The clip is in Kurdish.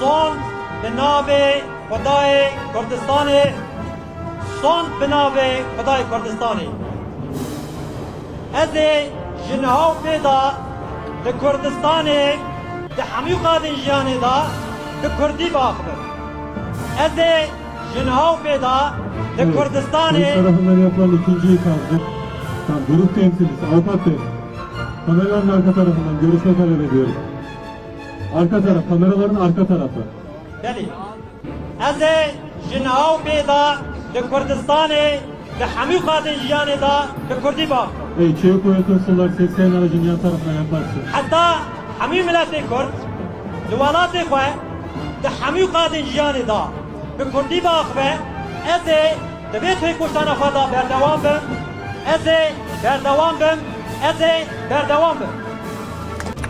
Sond bi navê Xwedayê Kurdistanê Sond bi navê Xwedayê Kurdistanê Ez ê ji niha û pê de li Kurdistanê di hemû qadên jiyanê de bi kurdî biaxivim Ez ê ji niha û pê de li Kurdistanê Arka taraf, kamera werin arka tarafa. Belê. Ez ê ji niha û bê de di Kurdistanê di hemû qadên jiyanê de bi kurdî bang bikim. Ey çê ku tu solar sêskayê nava ji niha tarafa ya pers e. Heta hemû miletê kurd li welatê xwe di hemû qadên jiyanê de bi kurdî biaxive, ez ê di vê têkoşana xwe de berdewam bim, ez ê berdewam bim, ez ê berdewam bim.